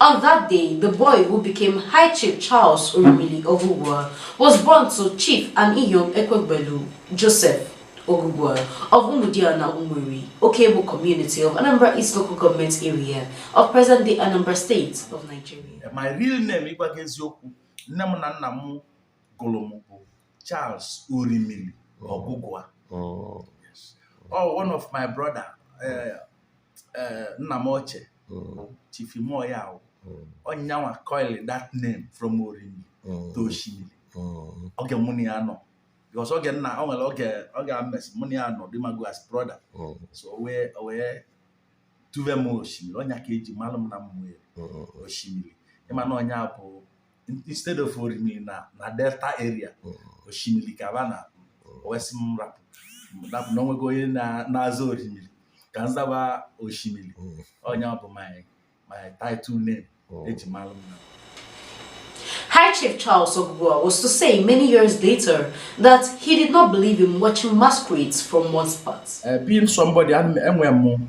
On that day, the boy who became High Chief Charles Orimili Ogugua was born to Chief and Iyom Ekwegbelu Joseph Ogugua of Umudiana Umueri Okebo community of Anambra East Local Government Area of present-day Anambra State of Nigeria. My real name, ịgwa gị eziokwu, nne m na nna m gụrụ m bụ Charles Orimili Ogugua. Oh. oh, one of my brother, uh, eh, nna m ochie mm, Chief Imoya Awu mm, ọ nyanwa coil that name from Orimili mm, to Oshimili mm, oge mụ na ya nọ because oge nna o nwere oge oge a mesị mụ na ya nọ dị mago as brother mm, so o wee o wee tuve m Oshimili ọ nya ka e ji malụ m na mmụọ mm, Oshimili ị ma na ọ nya bụ instead of orimiri na na delta area mm. Oshimili ka ba na wee sị m rapụ rapụ na o nwego onye na- na-aza orimiri ka m zaba Oshimili Mm. ọ nya bụ my my title name Mm. eji malụ m na High Chief Charles Ogugua was to say many years later that he did not believe in watching masquerades from one spot. Eh, being somebody ana m- enwe m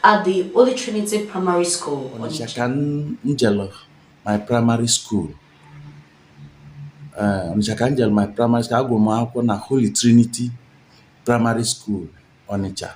At the Holy Trinity Primary School. Onitsha ka m jelu my primary school. Eh, Onitsha ka m jelu my primary school. Agụrụ m akwụkwọ na Holy Trinity Primary School Onitsha.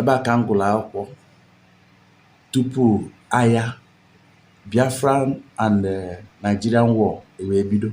Ebe a ka m gụlụ akwụkwọ tupu aya Biafran and eh, Nigerian War ewee bido.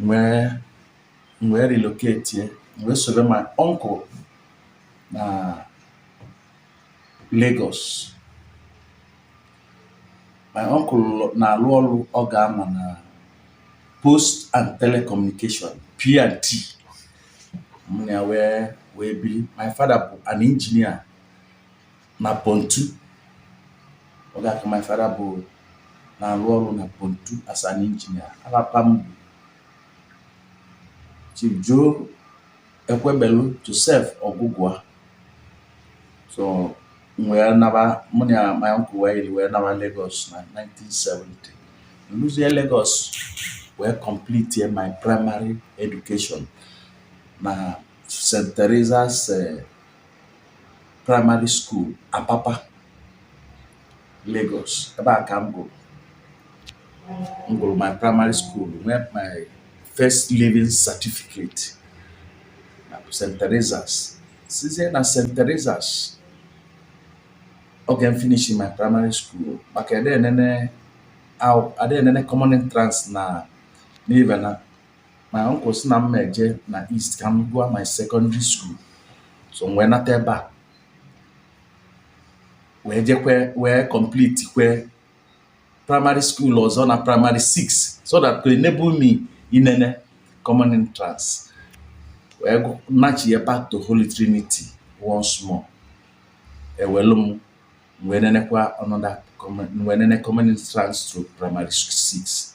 m wee relocatie m wee solu my uncle na Lagos my uncle na-alụ ọlụ oge ama na post and telecommunication P&T mụ na ya wee wee biri my father bụ an engineer na Pontu oge aka my father bụ na-alụ ọlụ na Pontu as an engineer ava pa m bụ Chief Joe Ekwegbelu Joseph Ogugua so m wee naba mụ na my uncle wee yiri wee naba Lagos na 1970 m luzie Lagos wee complete my primary education na St. Teresa's eh, Primary School, Apapa, Lagos. Ebe a ka m gụlụ. M gụlụ my primary school, nwee my first leaving certificate na St. Teresa's. Sizie na St. Teresa's, oge m finishi my primary school, maka ada enene aw- ada enene common entrance na n'ibe na my uncle sị na m ma eje na east ka m gụọ my secondary school so m wee nata ebe a wee jekwe wee complete kwe primary school ọzọ na primary 6 so that could enable me inene common entrance wee gụ- nachia back to holy trinity once more ewelu m wee nenekwa another common wee nene common entrance through primary 6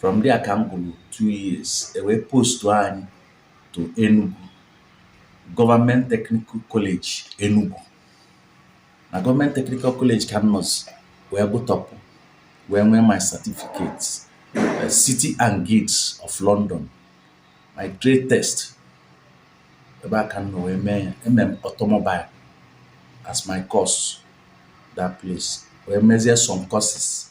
from there ka m gụlụ two years ewee postu anyị to Enugu Government Technical College Enugu na Government Technical College ka m nọzi wee gụtọpụ wee nwee my certificates uh, City and Guilds of London my trade test ebe a ka m nọ wee mee ya emere m automobile as my course that place wee mezie some courses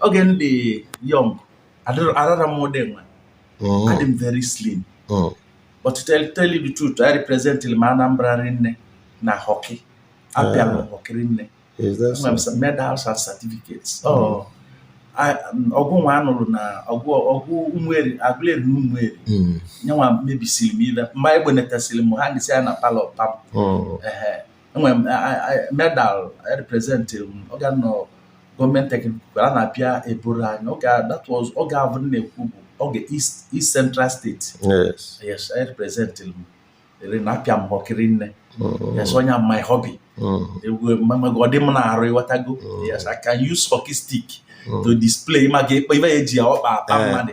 oge m dị young adịrọ- arara m ụdị nwa Mm, adị m very slim mm. but to tell, tell you the truth I represent m Anambra rinne na hockey apịalụ m hockey rinne Is that enwere m so? some medals and certificates oh I- um, ọgụ nwa a nụlụ na ọgụ ọgụ Ụmụeri Agụleri na Ụmụeri Mm, nya nwa mebisili m ive mma egbenetasịrị m hangịsị ya na palọ pam mm. ehe enwere m medal representilụ m oge a nọ Government Technical a na-apịa eburu anyị oge that was oge avụ na-ekwu bụ oge east east central state yes yes representilụ m rinne apịa m hockey rinne mm. yes ọ nya my hobby mm. egwu mamago ọ dị m n'arụ ịghọtago mm. yes i can use hockey stick to display maka ịkpa ive e ji ya ọkpa akpa mmadụ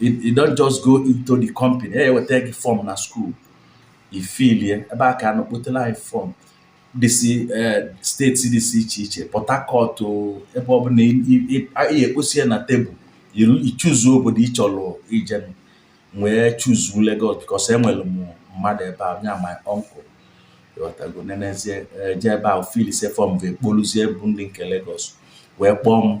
you don't just go into the company e weta gị form na school i filie ebe a ka a nọ kpotelu anyị form dịsị eh, state dịsị iche iche port harcourt ebe ọ bụla ekposi ya na table i chuzuo obodo ị chọrọ ije m wee chuzuo Lagos because enwere m mmadụ ebe a nya my uncle ghọtago nenezie eh, jee ebe a filisie form wee kpoluzie bụ ndị nke Lagos wee kpọọ m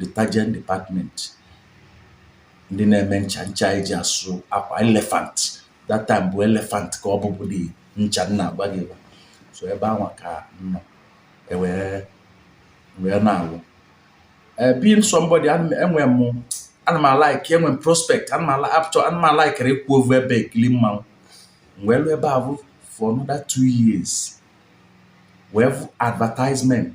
detergent department ndị na-eme ncha ncha e ji asụ akwa elephant that time bụ elephant ka ọ bụbu dị ncha m na-agwa gị gwa so ebe nwa ka m nọ wee wee na-alụ eh, being somebody enwe m ana m alaik enwe m prospect ana m ala apụchọ ana m alaikirọ ịkwụ ovu ebe ekili mmanwụ wee lụ ebe avụ for another two years wee vụ advertisement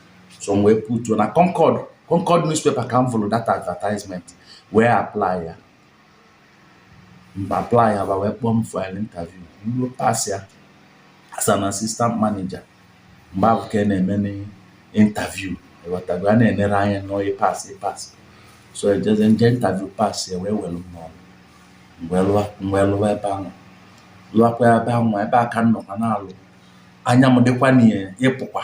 so m wee putuo na Concord Concord newspaper ka m vụrụ that advertisement wee apply ya m apply ya ba wee kpọọ m for an interview m wee pass ya as an assistant manager mgbe ahụ ka a na-eme interview ịghọtago a na-enere anya na onye pass pass so ejezie m je interview pass ya wee were m n'ọrụ m wee lụwa m wee lụwa ebe ahụ lụwakwa ebe ahụ ebe a ka m nọkwa na-alụ anya m dịkwa n'ịpụkwa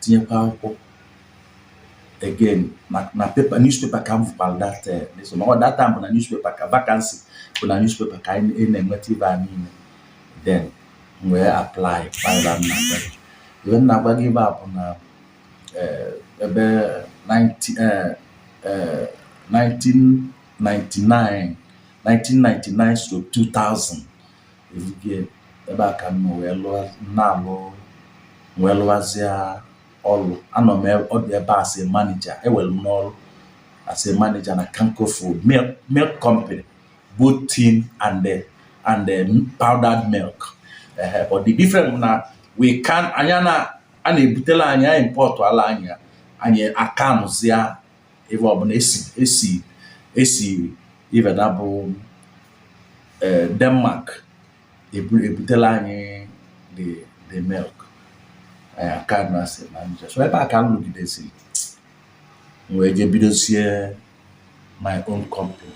tinyekwa akwụkwọ again na na paper newspaper ka m fụkwara that eh, newspaper. Ma ọ that time bụ na newspaper ka vacancy bụ na newspaper ka anyị anyị na-enweta ife a niile then m wee apply kpara m na be ife m na-agwa gị ife a bụ na eh, ebe 19 eh, eh, 1999 1999 stroke 2000 ezikie ebe a ka m nọ wee lụọ na-alụ wee lụwazịa ọlụ anọ m e- ọdụ ebe a as a manager ewere m n'ọrụ as a manager na Kanko Food milk milk company both tin and the and the powdered milk ehe but the difference bụ na we can anyị na a na-ebutela anyị ya a importụala anyị ya anyị a canụzịa ife ọ bụ na esi esi esi ife na bụ eh, Denmark ebutela anyị the the milk anyị a can ya as a manager so ebe a ka m lụgidesiri m wee jee bidosie my own company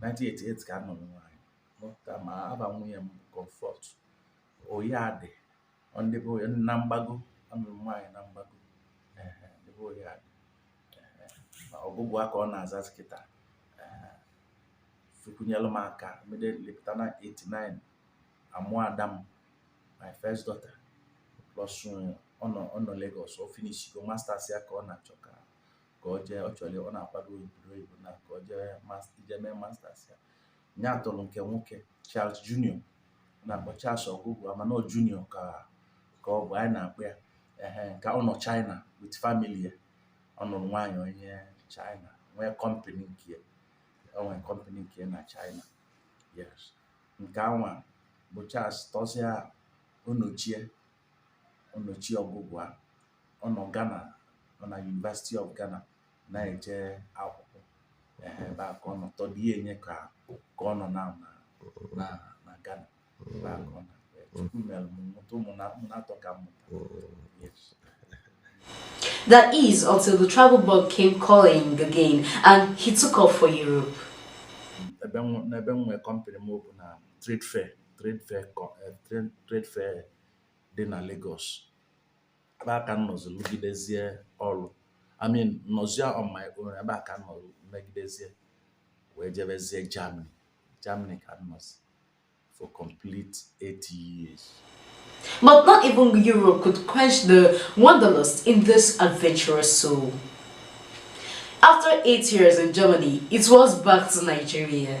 1988 ka a nụrụ nwaanyị mụta ma afa nwunye m Comfort Oyiadị ọ ndị be oyi na mgbago a nụrụ nwaanyị na mgbago ehe, ndị be Oyiadị ehe, ma Ogugua ka ọ na-azazi kịta ehe, Chukwu nyelụ m aka immediately pụta na 89 a mụọ ada m my first daughter plus uh, ọ nọ ọ nọ Lagos ọ finishigo masters ya ka ọ na-achọ ka ka ọ jee ọ chọrọ ọ na-akwado obodo oyibo na ka ọ jee mas- jee mee masters ya ya tọrọ nke nwoke Charles Junior a na-akpọ Charles Ogugua mana ọ Junior ka ka ọ bụ anyị na-akpọ ya ehe ka ọ nọ China with family ya ọ nụrụ nwaanyị onye China nwee company nke ya o nwere company nke ya na China yes nke anwa bụ Charles tọsịa Onochie Onochie Ogugua ọ nọ Ghana nọ na University of Ghana na-eje akwụkwọ ehe ebe a ka ọ nọ third year nya ka ka ọ nọ na na na na Ghana ebe a ka ọ nọ Chukwu mere m mụta ụmụ na ụmụ na-atọ ka m mụta Yes. That is until the travel bug came calling again and he took off for Europe. ebe m- n'ebe m nwee company m bụ na trade fair trade fair co- eh, trade- trade fair dị na Lagos ebe a ka m nọzi lụgidezie ọlụ I mean nọzie on my own ebe a ka m nọ megidezie wee jebezie Germany Germany ka m nọzi for complete 8 years But not even Europe could quench the wanderlust in this adventurous soul. After eight years in Germany, it was back to Nigeria.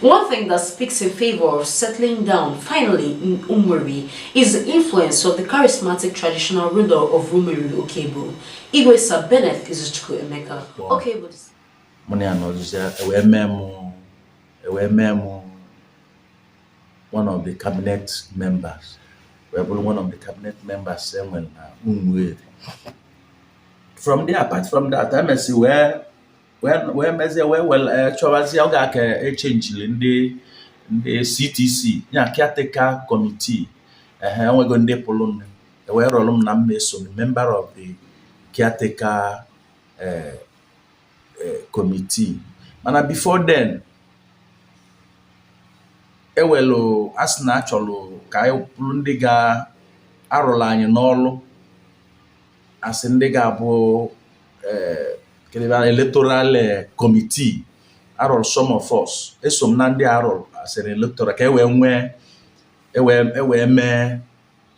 One thing that speaks in favor of settling down finally in Umueri is the influence of the charismatic traditional ruler of Umueri, Okebo. Igwe Sir Bennett Izuchukwu Emeka. Okebo. Mụ na ya nọzụzi e wee mee mụ e wee mee mụ one of the cabinet members wee bụrụ one of the cabinet members e nwere na Umueri. From there apart from that, emesi wee wee mezie wee were eh, chọwazie oge a ka e chenjiri ndị ndị CTC ya caretaker committee ehe e nwego ndị pụlụnụ e wee rọrọ m na m eso member of the caretaker eh, eh, committee mana before then e welu a sị na a chọrọ ka a rọpụlụ ndị ga-arụrụ anyị ọlụ asị ndị ga-abụ kedịbara electoral committee a rọlụ some of us eso m na ndị a rọlụ as eh electoral ka e wee nwee e wee e wee mee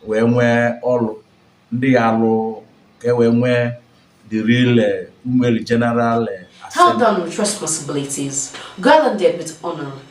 wee nwee ọlụ ndị ya-alụ ka e wee nwee the real Umueri general Held down with responsibilities. Garlanded with honor.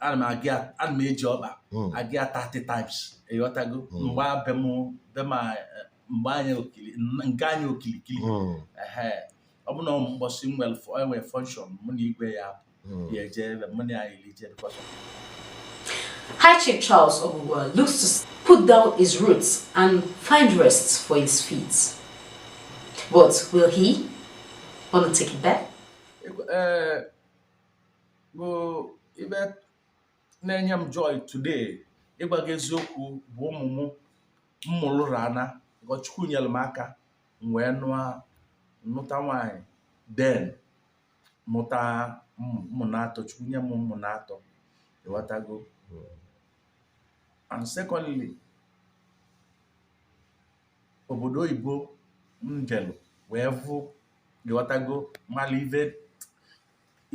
ana m agị ya- ana m eji ọkpa Mm. agị ya 30 times ịghọtago Mm. mgbe be m be ma eh, mgbe anyị okili n- m gaa ya okilikili Mm. ehe ọ bụ na ọ mbọsị m nwere fọ- e nwe function mụ na igwe ya Mm. ya eje ebe mụ na ya iri je because High Chief Charles Ogugwa looks to s- put down his roots and find rest for his feet. But will he want to take it back? Ekwe- eh, bụ ive na-enye m joy today ịgwa gị eziokwu bụ ụmụ m m mụlụ rana God Chukwu nyere m aka m wee nụọ nụta nwaanyị then mụta ụmụ ụmụ naatọ Chukwu nye m ụmụ naatọ ịghọtago and secondly obodo oyibo m jelụ wee vụ ịghọtago mala ive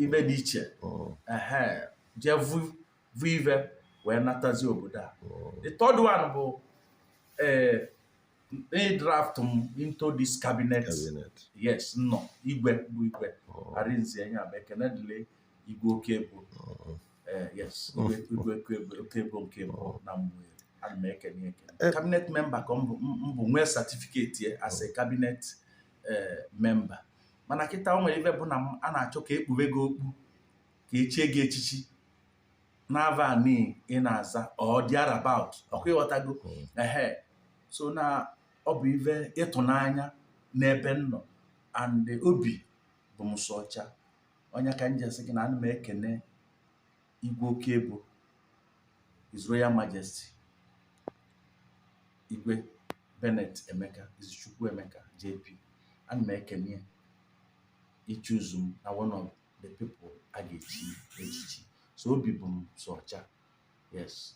ibe dị iche mm. ehe jee vu vu ive wee natazi obodo a mm. the third one bụ ee eh, they draft m into this cabinet yes nnọ igwe bụ igwe oh. arinze ya bụ ekene dịlị igwe oke ebo oh. eh, yes oh. igwe oke ebo nke mbụ na Umueri ana m ekene ekene eh. cabinet member ka m bụ nwee certificate ya as a eh. cabinet eh, member mana kịta o nwere ive bụ na a na-achọ ka ekpube gị okpu ka echie gị echichi n'ava ni ị na-aza or thereabout ọkwa ị ghọtago hmm. ehe so na ọ bụ ive ịtụnanya n'ebe m nọ and obi bụ m sọ ọcha ọ nya ka m ji asị gị na ana m ekene igwe oke ebo His Royal Majesty igwe Bennett Emeka Izuchukwu Emeka JP ana m ekene ya ịchoose m na one of the people a ga-echi echichi so obi bụ m sọ ọcha yes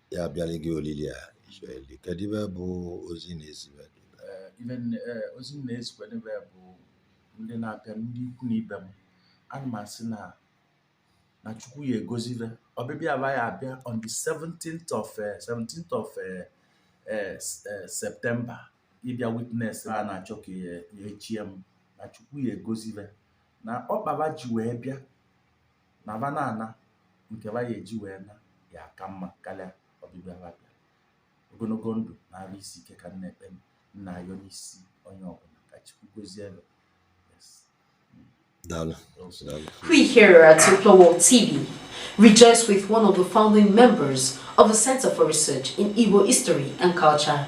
ya abịalị gị olili a ichọeli kedu ive bụ ozi ị na-ezi ve gị Eh, ive nne- eh, ozi m na-ezikwa n'ebe bụ ndị na-abịa ndị ikwu na ibe m ana m asị na na chukwu ya egozi ve ọbịbịa ba ya abịa on the 17th of eh, 17th of eh, eh, s- eh, September ịbịa witness na a na-achọ ka ya ya echie m na chukwu ya egozi ve na ọkpa ba ji wee bịa na va na-ana nke va ya eji wee naa ya aka mma karịa ọbịbịa va bịara ogologo ndụ na arụ isi ike ka m na-ekpe m na-ayọ n'isi onye ọbụla ka chukwu gozie ve Daalụ. We here at Upper World TV rejoice with one of the founding members of the Center for Research in Igbo History and Culture,